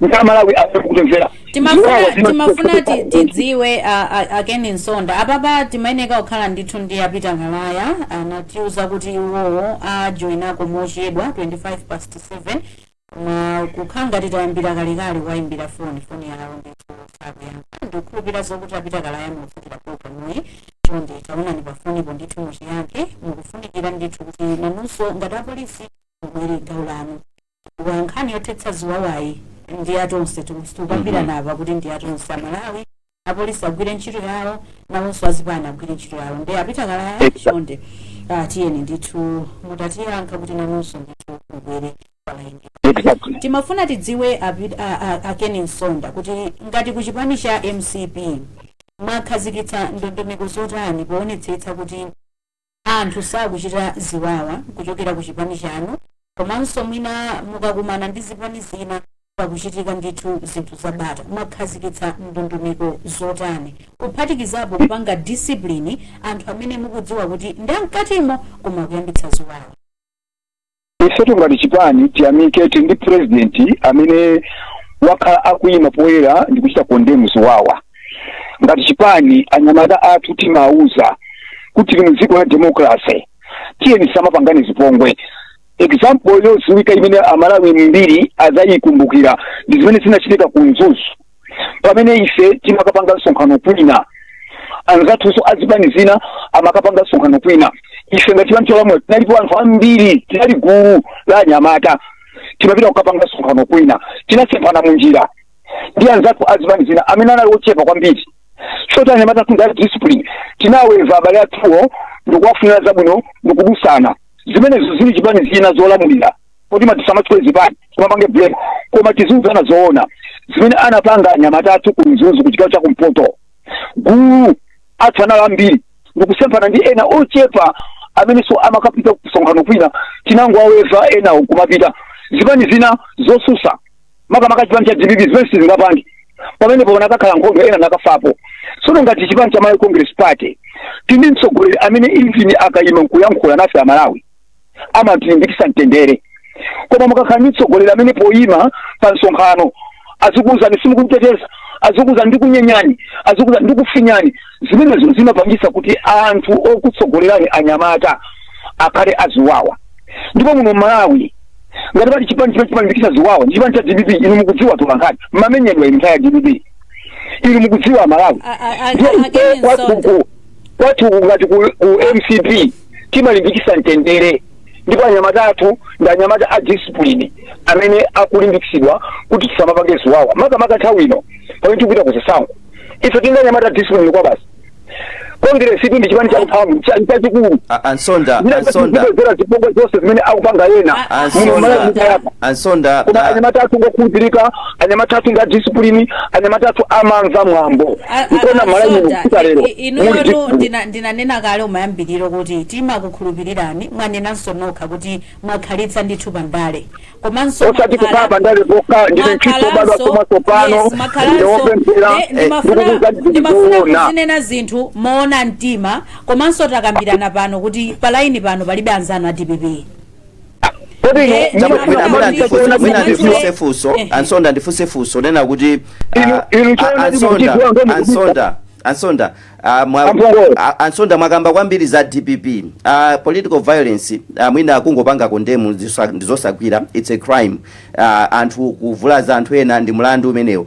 ndi amalawi akutimvera timafuna timafuna ti- tidziwe a- a- akeni msonda apapa timayeneka kukhala ndithu ndi a peter kalaya anatiuza kuti iwowo ajoinako mochedwa 25 past 7 koma kukhala ngati tayambira kalekale tawayimbira foni foni yawo ndithu sakuyankha ndikukhulupira zokuti a peter kalaya mukuyimvera programuyi chonde taonani pafonipo ndithu mutiyankhe mukufunikira ndithu kuti nanunso ngati apolisi mubwere gawo lanu chifukwa nkhani yothetsa ziwawayi ndi ya tonse tonse tikukambirana apa kuti ndi ya tonse amalawi apolisi agwire ntchito yawo nawonso azipani agwire ntchito yawo nde a Peter Kalaya chonde ah, tiyeni ndithu mutatiyankha kuti nanunso ndithu mubwere palaini exactly timafuna tidziwe api- a- a- a Ken Msonda kuti ngati ku chipani cha mcp mwakhazikitsa ndondomeko zotani poonetsetsa kuti anthu sakuchita ziwawa kuchokera ku chipani chanu komanso mwina mukakumana ndi zipani zina pakuchitika ndithu zinthu za bata mwakhazikitsa ndondomeko zotani kuphatikizapo kupanga discipline anthu amene mukudziwa kuti ndi amkatimo koma akuyambitsa ziwawa ifetu ngati chipani tiyamike tili ndi purezidenti amene wakhala akuyima poyera ndi kuchita condemn ziwawa ngati chipani anyamata athu timawuza kuti tili mu dziko la demokrase tiyeni tisamapangane zipongwe example yodziwika imene amalawi ambiri adzayikumbukira ndi zimene zinachitika ku mzuzu pamene ife timakapanga msonkhano kwina anzathuso azipani zina amakapanga msonkhano kwina ife ngati chipani cholamula tinalipo anthu ambiri tinali gulu la anyamata timapita kukapanga msonkhano kwina tinasemphana mu njira ndi anzathu azipani zina amene anali ochepa kwambiri choti anyamata athu ndi a discipline tinaweva abale athuwo ndikuwafunira zabwino ndikudusana zimenezo zili chipani zina zolamulira kuti ma tisamatchule zipani timapange blame koma tiziuzana zoona zimene anapanga anyamata athu ku mzuzu ku chigawo cha kumpoto gulu athu anali ambiri ndikusemphana ndi ena ochepa amenenso amakapita kusonkhano kwina tinangowaweva enawo kumapita zipani zina zosusa makamaka chipani cha dpp zimene sizingapange pamenepo panakakhala nkhondo ena nakafapo sono ngati chipani cha malawi congress party tindi mtsogoleri amene even akayima nkuyankhula nafe amalawi amatilimbikisa mtendere koma mukakhala ndi mtsogoleri amene poyima pa msonkhano azikuwuzani simukumuteteza azikuwuzani ndikunyenyani azikuwuzani ndikufinyani zimenezo zimapangisa kuti anthu okutsogolerani anyamata akhale aziwawa ndipo muno malawi ngati pali chipani chimene chimalimbikisa ziwawa ndi chipani cha dpp inu mukudziwa atolankhani mmamenyedwa inu nthawi ya dpp inu mukudziwa malawi A- a- a- Ndiye again, ife kwa Msonda. Gugu, kwathu uku ngati ku, ku mcp timalimbikisa mtendere ndipo anyamata athu ndi anyamata a discipline amene akulimbikitsidwa kuti tisamapange ziwawa makamaka nthawi ino pamene tikupita ku zisankho ife tili ndi anyamata a discipline kwa basi kongresi ndi chipani cha mphamvu cha- chachikulu A- a Msonda a Msonda zera zipongwe zonse zimene akupanga ena a Msonda. muno mala zikayapa a Msonda koma na- anyamata athu ngokhulupirika anyamata athu ndi a discipline anyamata athu amamva mwambo A- a- nkuona Malawi ine Soja, kufika lero i- i- muli inuyotu discipline. ndina- ndinanena kale umayambiriro kuti timakukhulupirirani mwanenanso nokha kuti mwakhalitsa ndithu pandale komanso osati mwakhala- kuti pandale pokha ndinu m'tchito mbado asoma tsopano ndewopemphera ndikukuza ndikuona ndikukuzinena zinthu moona mtima komanso takambirana pano kuti palaini pano palibe anzanu a dpp ndifunse funso a Nsonda ndifunse funso lonena kuti a Nsonda a Nsonda a Nsonda mwakamba kwambiri za dpp uh, political violence uh, mwina kungopanga kondemu ndi zosakwanira its a crime uh, anthu kuvulaza anthu ena ndi mlandu umenewo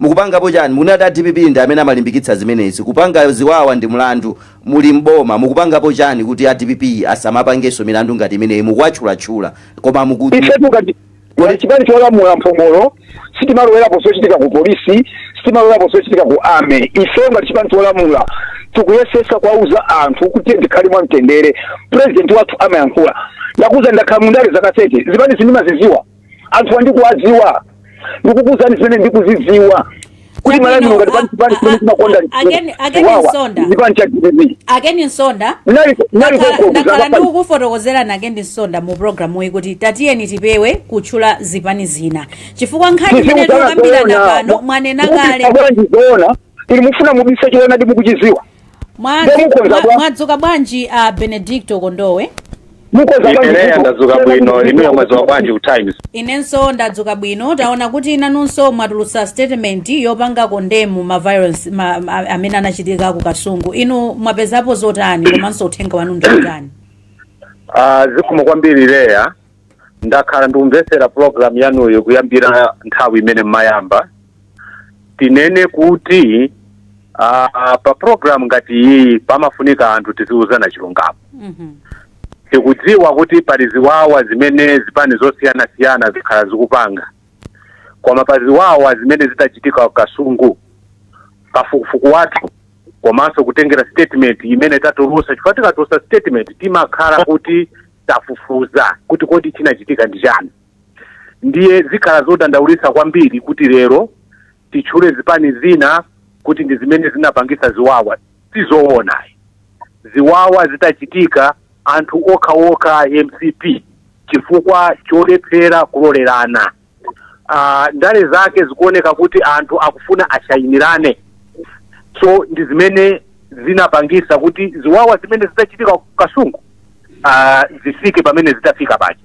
Mukupangapo chani? Mukunena kuti a dpp ndi amene amalimbikitsa zimenezi. Kupanga ziwawa ndi mlandu muli m'boma. Mukupangapo chani kuti a dpp asamapangenso milandu ngati imeneyi? Mukuwatchulatchula koma muku. Ifetu ngati ngati chipani cholamula m'bomalo sitimalowerapo zochitika ku police, sitimalowerapo zochitika ku army. Ifeyo ngati chipani cholamula tikuyesesa kuwauza anthu kuti tiyeni tikhale mwamtendere. President wathu amayankhula. Ndakuuzani ndakhala mu ndale zaka 30. Zipanizi ndimazidziwa. anthu wa ndikuwadziwa ndikukuuzani zimene ndikuzidziwa kuti Chabwino, m'Malawi muno ngati a- pansi pansi a- pamene chimakonda a- a Ken- a Ken chiwawa Nsonda. ndi chipani cha dpp a Ken Nsonda Ndinali- ndinali Ndakhala- kokoko, ndakhala zaka ndi pali- kukufotokozerani a Ken Nsonda mu programu iyi kuti tatiyeni tipewe kutchula zipani zina chifukwa nkhani imene Tiziuzana tikukambirana zoona. pano mwanena Mukufuna kale bwanji zoona ili mufuna mubise choonadi mukuchiziwa Mwa- Ndiye mukhoza mwa- bwa- mwadzuka bwanji a benedicto kondowe mukhoza ine Leya ndadzuka bwino inuyo mwadzuka bwanji ku times inenso ndadzuka bwino taona kuti nanunso mwatulutsa statement yopanga kondemu ma violence ma, ma, amene anachitika ku kasungu inu mwapezapo zotani komanso uthenga wanu ndi wotani Ah, zikomo kwambiri leya ndakhala ndikumvetsera program yanuyi kuyambira nthawi imene mmayamba tinene kuti ah, ah, pa program ngati iyi pamafunika anthu tiziuzana chilungamo Mhm. tikudziwa kuti pali ziwawa zimene zipani zosiyanasiyana zakhala zikupanga koma pa ziwawa zimene zidachitika ku kasungu kafukufuku wathu komanso kutengera statement imene tatulusa chifukwa tikatulusa statement timakhala kuti tafufuza kuti kodi chinachitika ndi chani ndiye zikukhala zodandaulitsa kwambiri kuti lero titchule zipani zina kuti ndi zimene zinapangitsa ziwawa sizoona ziwawa zidachitika anthu okhaokha mcp chifukwa cholephera kulolerana ah, ndale zake zikuoneka kuti anthu akufuna ashayinirane so ndi zimene zinapangisa kuti ziwawa zimene zidachitika ku kasungu ah, zifike pamene zidafika paja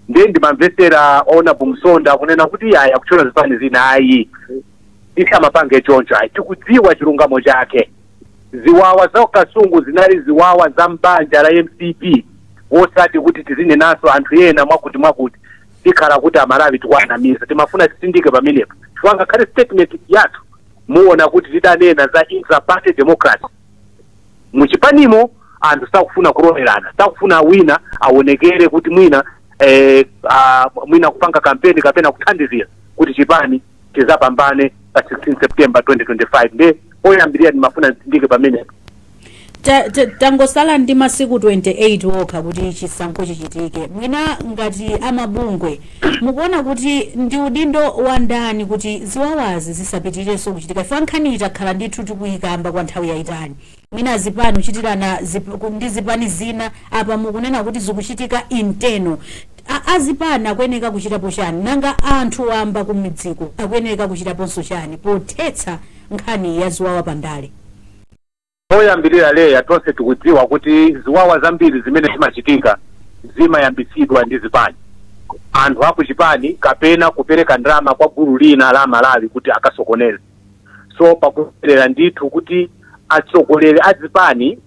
ndiye ndimamvetsera a Nabumsonda akunena kuti iyayi akutchula zipani zina ayi tisamapange choncho ayi tikudziwa chilungamo chake ziwawa za kasungu zinali ziwawa za mbanja la mcp wosati kuti tizinenanso anthu ena mwakuti mwakuti tikhala kuti amalawi tikuwanamiza timafuna titsindike pamenepo chifukwa ngakhale statement yathu muona kuti tidanena za intraparty democracy muchipanimo anthu sakufuna kulolerana sakufuna wina aonekere kuti mwina eh, ah, mwina kupanga kampeni kapena kuthandizira kuti chipani chizapambane pa 16 september 2025 nde oyambirira ndimafuna nditsindike pamenepo Ta- ta- tangosala ndi masiku 28 okha kuti chisankho chichitike mwina ngati amabungwe mukuona kuti ndi udindo wa ndani kuti ziwawazi zisapitirenso kuchitika ife nkhaniyi takhala ndithu tikuyikamba kwa nthawi yayitali mwina zipani kuchitirana zip, ku- ndi zipani zina apa mukunena kuti zikuchitika internal A- azipani akuyeneka kuchitapo chani nanga anthu wamba kumidziko akuyeneka kuchitaponso chani pothetsa nkhani ya ziwawa pa ndale poyambirira Leya tonse tikudziwa kuti ziwawa zambiri zimene zimachitika zimayambitsidwa ndi zipani anthu akuchipani kapena kupereka ndalama kwa gulu lina la amalawi kuti akasokoneze so pakuyenera ndithu kuti atsogoleri a zipani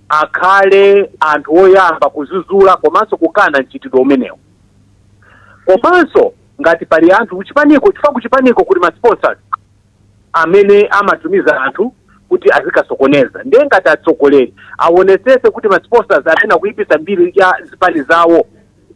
akhale anthu oyamba kuzuzula komanso kukana mchitidwe umenewu komanso ngati pali anthu kuchipaniko chifukwa kuchipaniko kuli masponsors amene amatumiza anthu kuti azikasokoneza ndiye ngati atsogoleri awonesese kuti masponsors amene akuyipisa mbiri ya zipani zawo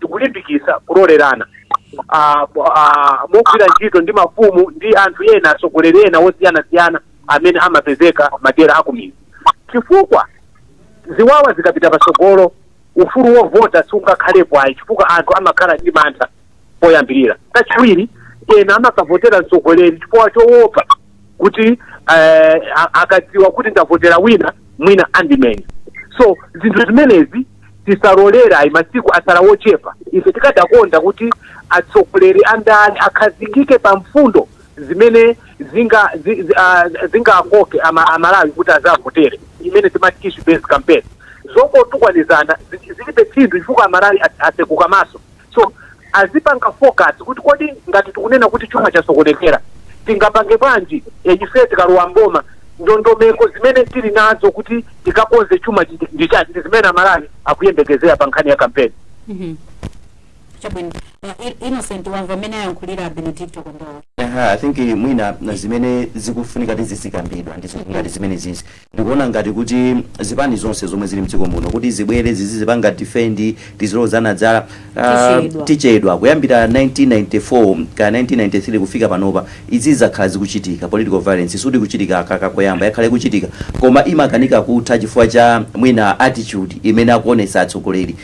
tikulimbikitsa kulolerana ah, po- ah, mogwira ntchito ndi mafumu ndi anthu ena atsogoleri ena osiyanasiyana amene amapezeka m'madera akumidzi chifukwa ziwawa zikapita patsogolo ufulu wovota sungakhalepo ayi chifukwa anthu amakhala ndi mantha poyambirira kachiwiri ena amakavotera mtsogoleri chifukwa choopa kuti eh, a- akadziwa kuti ndavotera wina mwina andimenya so zinthu zimenezi tisalolera ayi masiku atsala wochepa ife tikadakonda kuti atsogoleri andale akhazikike pa mfundo zimene zinga zi- zi- ah, zingakoke ama- amalawi kuti azavotere imene timati issue based campaign zongotukwanizana zi- zilibe phindu chifukwa amalawi atseguka maso so azipanga focus kuti kodi ngati tikunena kuti chuma chasokonekera tingapange bwanji e, ife tikalowa mboma ndondomeko zimene tili nazo kuti tikakonze chuma ndi- ndi chati ndi zimene amalawi akuyembekezera pa nkhani ya kampeni chabwino uh, I- innocent wamva mmene ayankhulira benedicto kondowe Aha, I think eh, mwina na zimene zikufunika kuti zizikambidwa ndi zinthu ngati zimene zizi Ndikuona ngati kuti zipani zonse zomwe zili mdziko muno kuti zibwere zizizipanga defend tizilozana zala Tichedwa. tichedwa. Kuyambira 1994 kaya 1993 kufika panopa izizi zakhala zikuchitika. Political violence sikuti ikuchitika aka kakoyamba yakhala ikuchitika koma imakanika kutha chifukwa cha mwina attitude imene akuonetsa atsogoleri.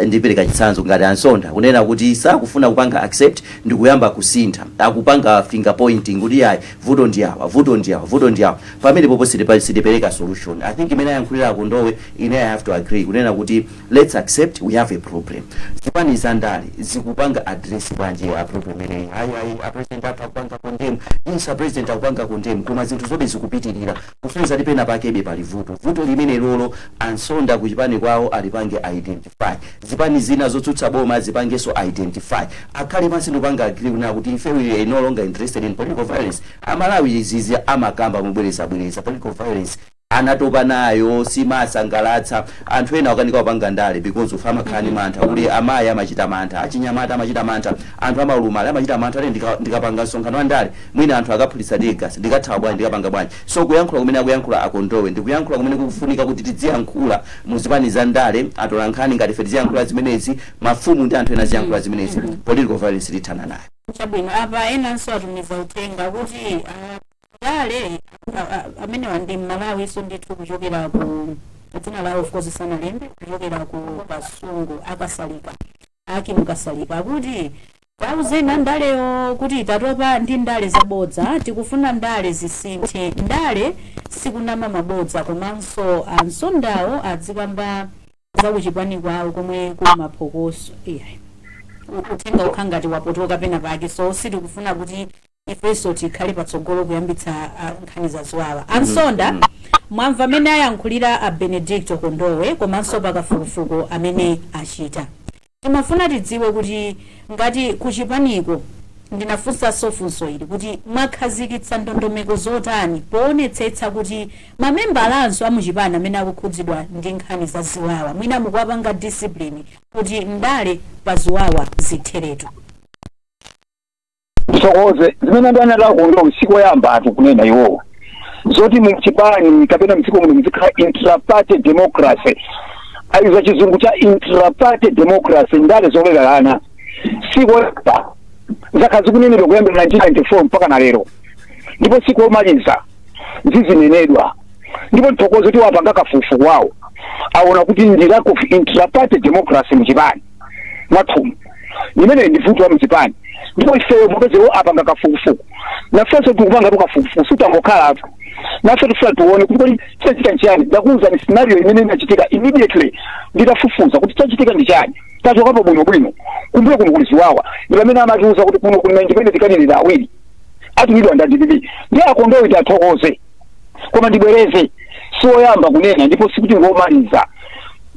Ndipereka chitsanzo ngati a Nsonda kunena kuti sakufuna kupanga accept ndikuyamba kusintha akupanga finger pointing kuti iyayi vuto ndi awa vuto ndi awa vuto ndi awa. Pamenepopo sitipa sitipereka solution. I think mmene ayankhulira a Kondowe ine I have to agree kunena kuti let's accept we have a problem. Zipani za ndale zikupanga address bwanji a problem imeneyi. Ayi ayi a president athu akupanga condemn. Yes a president akupanga condemn koma zinthuzobe zikupitirira. Kusonyeza kuti penapakebe pali vuto. Vuto limenelolo ansonda ku chipani kwawo alipange identify. identify zipani zina zotsutsa boma zipangenso identify akhale pansi ndikupanga agree kunena kuti ife we are no longer interested in political violence amalawi izizi amakamba mobwerezabwereza political violence anatopa nayo simasangalatsa anthu ena akukanika kupanga ndale because of amakhala ndi mantha kuti amayi amachita mantha achinyamata amachita mantha anthu aulumali amachita mantha kuti ndika- ndikapanga msonkhano wa ndale mwina anthu akaphulitsa teargas ndikathawa bwanji ndikapanga bwanji So kuyankhula kumene akuyankhula a Kondowe ndi kuyankhula kumene kukufunika kuti tidziyankhula mu zipani za ndale, atolankhani ngati ife tiziyankhula zimenezi, mafumu ndi anthu ena aziyankhula zimenezi. Political violence tithana nayo. Chabwino, apa enanso atumiza uthenga kuti ah, ndale ah, ah, amenewa ndi mmalawinso ndithu kuchokera ku dzina lawo of course sanalembe kuchokera ku kasungu akasalika Aki Mukasalika akuti tauzeni andalewo kuti tatopa ndi ndale zabodza, tikufuna ndale zisinthe. Ndale sikunama mabodza komanso ansondawo adzikamba za kuchipani kwawo komwe kuli maphokoso. Iyayi. Uthenga ukukhala ngati wapotoka pena pake so sitikufuna kuti ifenso tikhale patsogolo kuyambitsa ah, nkhani za ziwawa ansonda mwamva mmene ayankhulira a benedicto kondowe komanso pakafukufuku amene achita timafuna tidziwe kuti ngati kuchipaniko ndinafunsanso funso ili kuti mwakhazikitsa ndondomeko zotani poonetsetsa kuti mamembalanso amuchipani amene akukhudzidwa ndi nkhani za ziwawa mwina mukuwapanga discipline kuti ndale za ziwawa zitheretu ndithokoze zimene anena a Kondowe sikoyambatu kunena iwowo zoti muchipani kapena mdziko muno muzikhala intraparty democracy ayidza chizungu cha intraparty democracy ndale zolelerana sikoyamba zakhala zikunenedwa kuyambira 1994 mpaka na lero ndipo sikomaliza zizinenedwa ndipo ndithokoze kuti wapanga kafukufuku wawo aona kuti ndi lack of intraparty democracy mchipani mwathumu imene ndi vuto la mchipani ndipo ifeyo popezawo apanga kafukufuku nafenso tikupangatu kafukufuku sitangokhalatu nafe tifuna tione kuti kodi chachitika nchiyani ndakuuzani scenario imene inachitika immediately nditafufuza kuti chachitika ndi chani tachokapo bwino bwino kumbuyo kuno kuli ziwawa ndi pamene amatiuza kuti kuno kuli ma independent candidate awiri atumidwa ndi adpp ndiye a Kondowe tiwathokoze koma ndibwereze si woyamba kunena ndipo sikuti ngomaliza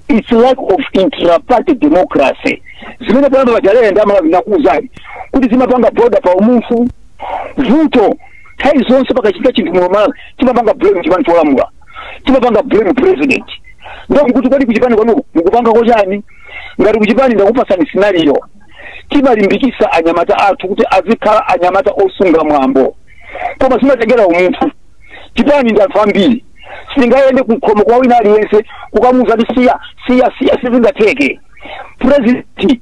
its lack of intraparty democracy zimene poyamba paja Leah ndimakuuzani kuti zimapanga border pa umunthu vuto nthawi zonse pakachitika chinthu muno malawi timapanga blame chipani cholamula timapanga blame president ndiye nkuti kodi kuchipani kwanuko mukupanga po chani ngati kuchipani ndakupasani scenario timalimbikisa anyamata athu kuti azikhala anyamata osunga mwambo koma zimatengera umunthu chipani ndi anthu ambiri sindingayende kukhomo kwa wina aliyense kukamuuza kuti siya siya siya sizingatheke purezidenti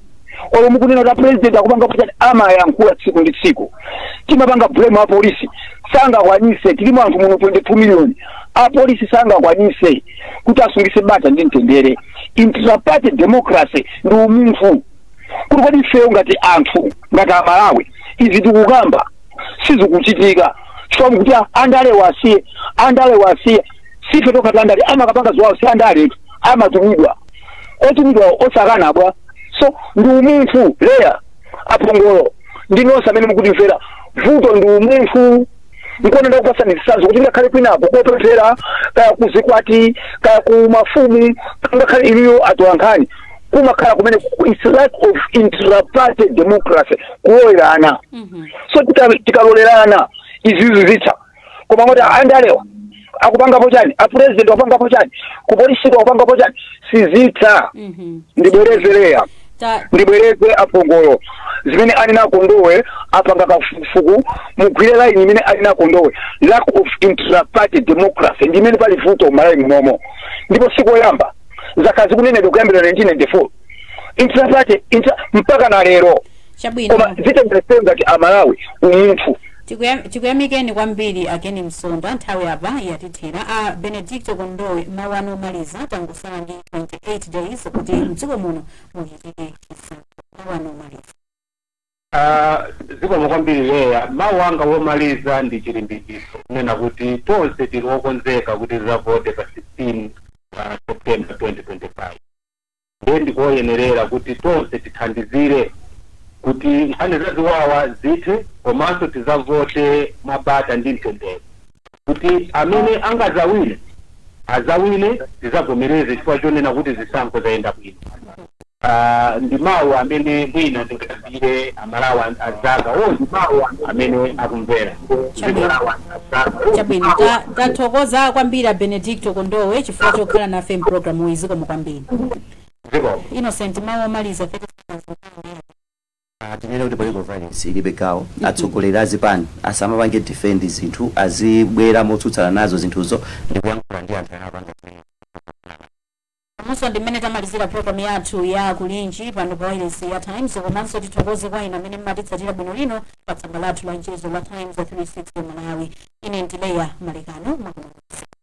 olo mukunena kuti apurezidenti akupangapo chani amayankhula tsiku ndi tsiku timapanga blame apolisi sangakwanise tilimo anthu muno 22 million apolisi sangakwanise kuti asungise bata ndi mtendere intraparty democracy ndi umunthu kuti kodi ifeyo ngati anthu ngati amalawi izi tikukamba sizikuchitika chifukwa chakuti andalewa asiye andalewa asiye si ife tokhatu andale amakapanga ziwawo si andaletu amatumidwa otumidwa osakana bwa so ndi umunthu Leah apongolo ndi nonse amene mukutimvera vuto ndi umunthu ndikuona ndakupasani zitsanzo kuti ngakhale kwinako kopemphera kaya kuzikwati kaya ku mafumu ngakhale inuyo atolankhani kumakhala kumene ku- its lack of intraparty democracy kulolerana so tika- tikalolerana izizi zitha koma moti andalewa akupangapo chani apresident akupangapo chani kupolisi akupangapo chani sizitha ndibwereze Leah ndibwereze apongolo zimene anena a Kondowe apanga kafukufuku mugwire laini imene anena a Kondowe lack of intraparty democracy ndi imene pali vuto m'malawi munomo ndipo sikoyamba zakhala zikunenedwa kuyambira 1994 intraparty intra mpaka na lero koma chabwino zitengera ifeyo ngati amalawi umunthu Tikuyam- tikuyamikeni kwambiri a Ken Msonda nthawi apa yatithera a Benedicto Kondowe mawu anu omaliza tangosala ndi 28 days kuti mdziko muno muchitike chisankho mawu anu omaliza Aaa zikomo kwambiri Leah, mau anga omaliza ndi chilimbikitso kunena kuti tonse tili okonzeka kuti tizavote pa 16 September 2025 ndiye ndikoyenerera kuti tonse tithandizire kuti nkhani za ziwawa zithe komanso tizavote mwa bata ndi mtendere. Kuti amene angazawine azawine tizavomereze chifukwa chonena kuti zisankho zayenda bwino ndi mau amene mwina ndingauzire amalawi anzanga onse amene akumvera. Chabwino, chabwino. Ta, tathokoza kwambiri a Benedicto Kondowe chifukwa chokhala nafe mpulogalamu iyi zikomo kwambiri. Innocent mawu omaliza 30 seconds. A tinene kuti political violence ilibe gawo, atsogoleri a zipani asamapange defend zinthu, azibwera motsutsana nazo zinthuzo ndikuyankhula ndi anthu amene akupanga zimenezo. Umu ndi mmene tamalizira program yathu ya Kulinji pano pa wailesi ya Times komanso tithokoze kwa inu amene mumatitsatira bwino lino pa tsamba lathu la mchezo la Times 360 Malawi. Ine ndi Leah Malekano makomanso.